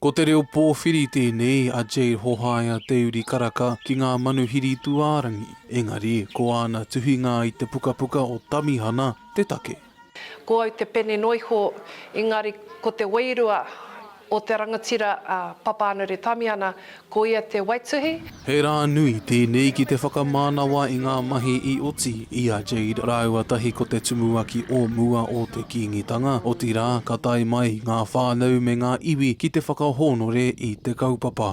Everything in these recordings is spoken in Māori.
Ko te reo pōwhiri tēnei a Jade Hohaia Te Uri Karaka ki ngā manuhiri tūārangi, engari ko āna tuhinga i te pukapuka o Tamihana te take. Ko au te pene noiho, engari ko te wairua O te rangatira a Papaanure Tamiana, ko ia te waituhi. He rā nui tēnei ki te whakamānawa i ngā mahi i oti i a Jade rāua tahi ko te tumuaki o mua o te Kīngitanga, otirā, ka tae mai ngā whānau me ngā iwi ki te whakahōnore i te kaupapa.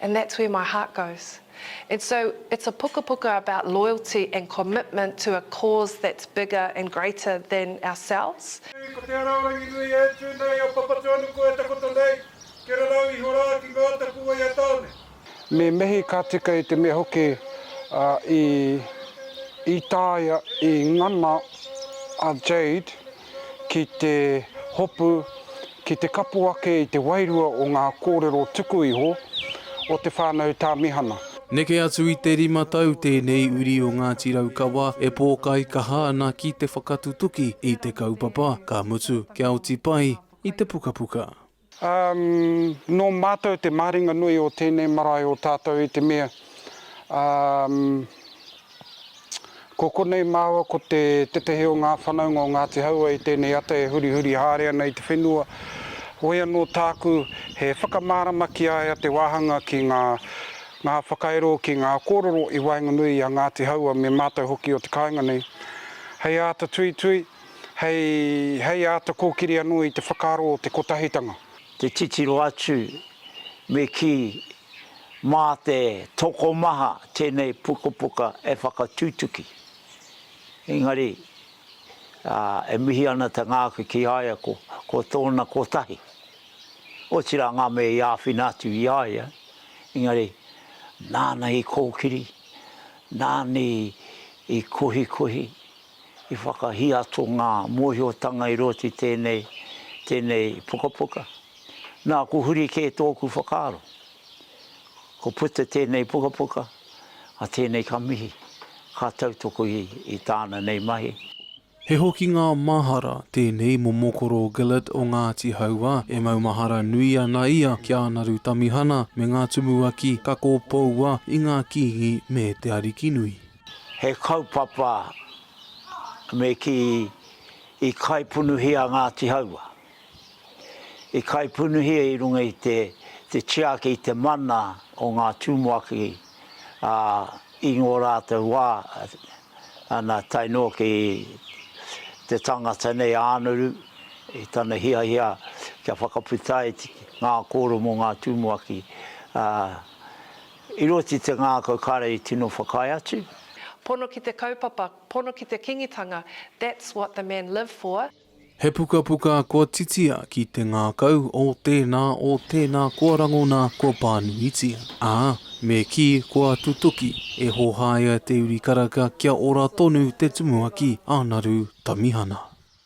And that's where my heart goes. And so it's a pukapuka about loyalty and commitment to a cause that's bigger and greater than ourselves. Nui, ko te ara o Ranginui e tū nei a Papatūānuku e takoto nei, kia rarau iho rā ki ngā tapu o ia tāone. Me mihi ka tika i te mea hoki i taea i ngana a Jade. ki te hopu, ki te kapo ake i te wairua o ngā kōrero tuku iho o te whānau Tāmihana. Neke atu i te rima tau tēnei uri o Ngāti Raukawa e pōkai kaha ana ki te whakatutuki i te kaupapa, ka mutu kia oti pai i te pukapuka. Ā, nō Mātou te maharinga nui o tēnei marae o tātou i te mea, ā, ko konei māua ko te tetehi o ngā whanaunga o Ngāti Hauā i tēnei ata e hurihuri haere ana i te whenua, whoi anō tāku he whakamārama ki a ia te wāhanga ki ngā, ngā whakairo, ki ngā kōrero i waenganui i a Ngāti Hauā me mātou hoki o te kāinga nei. Hei āta tuitui. hei āta kōkiri anō i te whakaaro o te kotahitanga. Te titiro atu, me kī, mā te tokomaha tēnei pukapuka e whakatutuki. Engari, e mihi ana te ngākau ki a ia ko tōna kotahi. Otirā ngā mea i āwhina atu i a ia, engari, nāna i kōkiri, nāna i kohikohi, I whakahiato ngā mōhiotanga i roto i tēnei, tēnei pukapuka. Nā, ko huri kē tōku whakaaro. Ko puta tēnei pukapuka, a tēnei ka mihi, ka tautoko i, i tāna nei mahi. He hokinga mahara tēnei mō Mokoro Gillett o Ngāti Hauā, e maumahara nui ana ia ki a Naru Tamihana me ngā tumuaki kako poua i ngā Kīngi me te Arikinui. He kaupapa me kī i kaipunuhia Ngāti Haua. I kaipunuhia i runga i te tiaki i te mana o ngā Tumuaki, ā, i ngō rātou wā, nā, tae noa ki te tangata nei a Ānuru, i tana hiahia kia whakaputa ai ngā kōrero mō ngā Tumuaki, ā, I roto i te ngākau kāre i tino whakaae atu. Pono ki te kaupapa, pono ki te kingitanga, that's what the men live for. He pukapuka kua titia ki te ngākau o tēnā, o tēnā kua rangona, kua pānuitia. Ā, me kī kua tutuki, e hōhāia te uri karaka kia ora tonu te tumuaki a Naru Tamihana.